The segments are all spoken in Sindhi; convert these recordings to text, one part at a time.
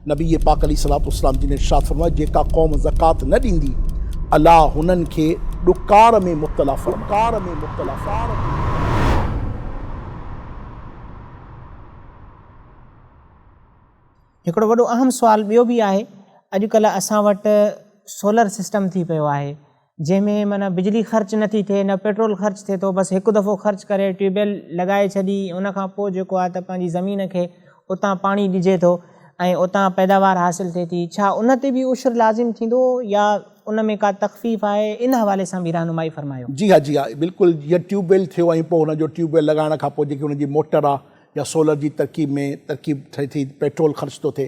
نبي پاڪ عليه الصلوة والسلام جن ارشاد فرمايو، جيڪا قوم زڪوات نه ڏيندي، الله هنن کي ڏڪار ۾ مبتلا فرمائي. هڪڙو وڏو اهم سوال ٻيو به آهي اڄ ڪلهه اسان وٽ سولر سسٽم ٿي پيو آهي. جنهن ۾ معنيٰ بجلي خرچ نه ٿي ٿئي نه پيٽرول خرچ ٿئي ٿو بس هڪ دفعو خرچ ڪري ٽيوب ويل لڳائي ڇڏي ان کان پوء جيڪو آهي ته پنهنجي زمين کي اتان پاڻي ڏجي ٿو ۽ اتان پيداوار حاصل ٿئي ٿي ڇا ان تي به عشر لازم ٿيندو يا ان ۾ ڪا تخفيف آهي ان حوالي سان به رهنمائي فرمايو. جي ها جي ها بلڪل جيئن ٽيوب ويل ٿيو ۽ پوء ان جو ٽيوب ويل لڳائڻ کان پوء جيڪي ان جي موٽر آهي يا سولر جي ترڪيب ۾ ترڪيب ٿئي ٿي پيٽرول خرچ ٿو ٿئي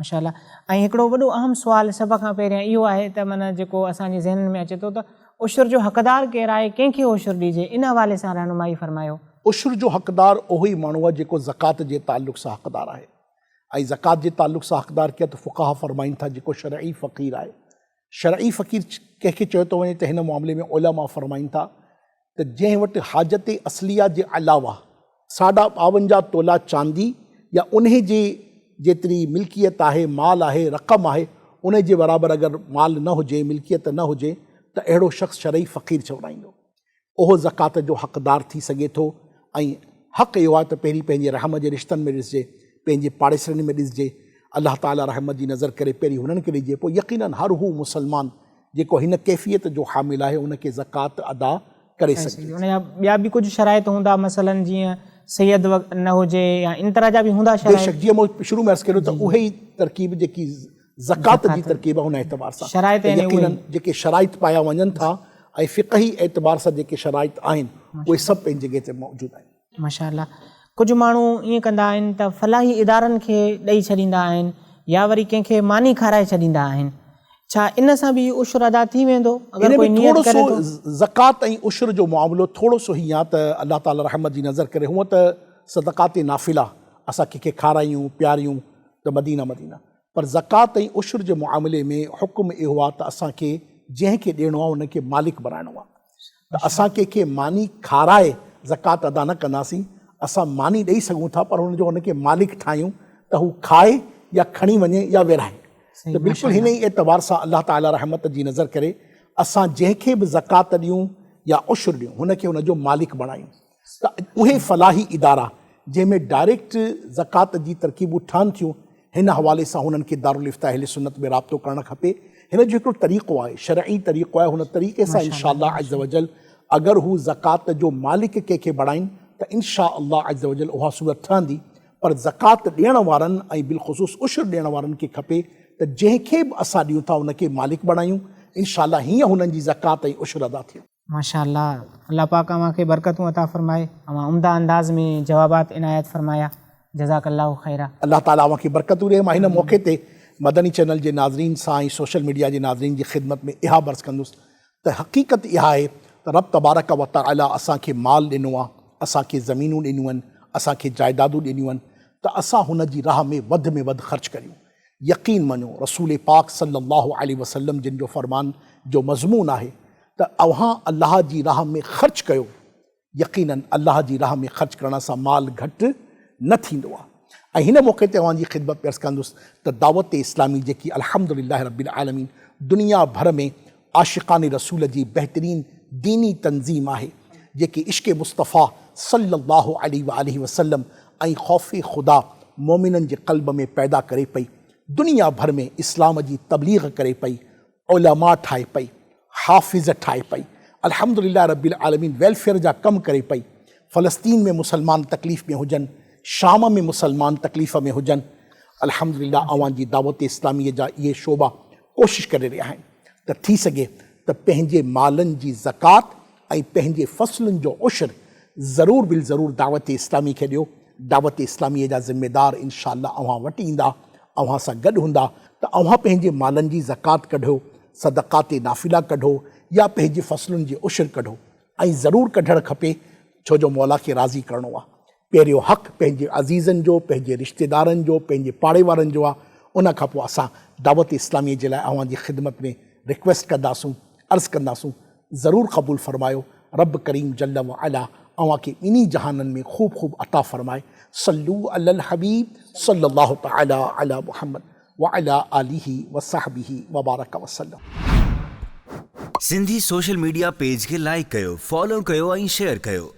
ماشاء الله ۽ هڪڙو وڏو اهم سوال سڀ کان پهريان اهو آهي ته معنيٰ جيڪو اسان جي ذهنن ۾ اچي ٿو ته عشر جو حقدار ڪير آهي ڪنهن کي عشر ڏجي ان حوالي سان رهنمائي فرمايو. عشر جو حقدار اهو ئي ماڻهو آهي جيڪو زڪوات جي تعلق سان حقدار آهي ۽ زڪوات جي تعلق سان حقدار ڪير ته فقهاء فرمائين ٿا جيڪو شرعي فقير آهي شرعي فقير ڪنهن کي چيو ٿو وڃي ته هن معاملي ۾ علماء فرمائين ٿا ته جنهن وٽ حاجت اصليه جي علاوه ساڍا ٻاونجاهه تولا چاندي يا انهي جي جيتري ملڪيت آهي، مال آهي، رقم آهي، انهي جي برابر اگر مال نه هجي، ملڪيت نه هجي ته اهڙو شخص شرعي فقير چورائيندو. اهو زڪوات جو حقدار ٿي سگهي ٿو ۽ حق اهو آهي ته پهرين پنهنجي رحم جي رشتن ۾ ڏسجي، پنهنجي پاڙيسرين ۾ ڏسجي، الله تعاليٰ رحمت جي نظر ڪري پهرين هنن کي ڏجي، پوء يقيناً هر هو مسلمان جيڪو هن ڪيفيت جو حامل آهي ان کي زڪوات ادا ڪري سگهجي ٿي. ان جا ٻيا به ڪجهه شرائط هوندا مثلاً جيئن سيد نه هجي يا ان طرح جا به هوندا شرائط؟ بيشڪ جيئن مون شروع ۾ عرض ڪيو ته اهي ئي ترڪيب جيڪي زڪوات جي ترڪيب ان اعتبار سان ته يقيناً جيڪي شرائط پايا وڃن ٿا ۽ فقهي اعتبار سان جيڪي شرائط آهن اهي سڀ پنهنجي جڳهه تي موجود آهن. ماشاء الله ڪجهه ماڻهو ائين ڪندا آهن ته فلاحي ادارن کي ڏئي ڇڏيندا آهن يا وري ڪنهن کي ماني کارائي ڇڏيندا آهن ڇا ان سان به هي عشر ادا ٿي ويندو اگر ڪوئي نيت ڪري ٿو؟ زڪوات ۽ عشر جو معاملو ٿورو سو هي آهي ته الله تعالي رحمت جي نظر ڪري هونء ته صدقات نافله اسان ڪنهن کي کارايون پياريون ته مدينه مدينه پر زڪوات ۽ عشر جي معاملي ۾ حڪم اهو آهي ته اسان کي جنهن کي ڏيڻو آهي ان کي مالڪ بڻائڻو آهي ته اسان ڪنهن کي ماني کارائي زڪوات ادا نه ڪنداسين، اسان ماني ڏئي سگهون ٿا پر ان جو ان کي مالڪ ٺاهيون ته هو کائي يا کڻي وڃي يا ورهائي ته بلڪل هن ئي اعتبار سان الله تعالي رحمت جي نظر ڪري اسان جنهن کي به زڪوات ڏيون يا عشر ڏيون هن کي ان جو مالڪ بڻايون. اهي فلاحي ادارا جنهن ۾ ڊائريڪٽ زڪوات جي ترڪيبون ٺهن ٿيون، هن حوالي سان هنن کي دارالفتاح اهل سنت ۾ رابطو ڪرڻ کپي. هن جو هڪڙو طريقو آهي، شرعي طريقو آهي، هن طريقي سان ان شاء الله عزّوجلّ اگر هو زڪوات جو مالڪ ڪنهن کي بڻائين ته ان شاء الله عزّوجلّ اها صورت ٺهندي پر زڪوات ڏيڻ وارن ۽ بالخصوص عشر ڏيڻ وارن کي کپي ته جنهن کي به اسان ڏيون ٿا ان کي مالڪ بڻايون ان شاء الله هيئن هنن جي زڪوات ۽ عشر ادا ٿيندي. ماشاء الله الله پاڪ اوهان کي برڪتون عطا فرمائي اوهان عمده انداز ۾ جوابات عنايت فرمايا جزاڪ الله خيرا. الله تعالي اوهان کي برڪتون ڏي مان هن موقعي تي مدني چينل جي ناظرين سان ۽ سوشل ميڊيا جي ناظرين جي خدمت ۾ اها عرض ڪندس ته حقيقت اها آهي ته رب تبارڪ و تعالي اسان کي مال ڏنو آهي اسان کي زمينون ڏنيون آهن اسان کي جائدادون ڏنيون آهن ته اسان هن جي راهه ۾ وڌ ۾ وڌ خرچ ڪريون يقين مڃو رسول پاڪ صلّي اللّٰه عليه وسلّم جن جو فرمان جو مضمون آهي ته اوهان الله جي راهه ۾ خرچ ڪيو يقيناً الله جي راهه ۾ خرچ ڪرڻ سان مال گهٽ نه ٿيندو آهي ۽ هن موقعي تي اوهان جي خدمت ۾ عرض ڪندس ته دعوت اسلامي جيڪي الحمد للّٰه رب العالمين دنيا ڀر ۾ عاشقان رسول جي بهترين ديني تنظيم آهي جيڪي عشق مصطفيٰ صلّي اللّٰه عليه واٰله وسلّم ۽ خوف خدا مؤمنن جي قلب ۾ پيدا ڪري پئي، دنيا ڀر ۾ اسلام جي تبليغ ڪري پئي، علماء ٺاهي پئي، حافظ ٺاهي پئي، الحمدلله رب العالمين ويلفيئر جا ڪم ڪري پئي، فلسطين ۾ مسلمان تڪليف ۾ هجن، شام ۾ مسلمان تڪليف ۾ هجن، الحمدلله اوهان جي دعوت اسلامي جا اهي شعبا ڪوشش ڪري رهيا آهن ته ٿي سگهي ته پنهنجي مالن جي زڪوات ۽ پنهنجي فصلن جو عشر ضرور بالضرور دعوت اسلامي کي ڏيو، دعوت اسلامي جا ذميدار انشاء الله اوهان وٽ ايندا، اوهان سان گڏ هوندا ته اوهان پنهنجي مالن جي زڪوات ڪڍو، صدقات نافله ڪڍو يا پنهنجي فصلن جي عشر ڪڍو ۽ ضرور ڪڍڻ کپي ڇو جو مولا کي راضي ڪرڻو آهي. پهريون حق پنهنجي عزيزن جو، پنهنجي رشتيدارن جو، پنهنجي پاڙي وارن جو آ، ان کان پوء اسان دعوت اسلاميء جي لاء اوهان جي خدمت ۾ ريڪويسٽ ڪنداسون، عرض ڪنداسون، ضرور قبول فرمايو، رب ڪريم جل وعلا اوهان کي ٻنهي جهانن ۾ خوب خوب عطا فرمائي، صلو علی الحبيب صلّي الله تعالٰي عليٰ محمّد وعليٰ آلٰه وصحبه وبارڪ وسلّم. سنڌي سوشل ميڊيا پيج کي لائيڪ ڪيو، فالو ڪيو ۽ شيئر ڪيو.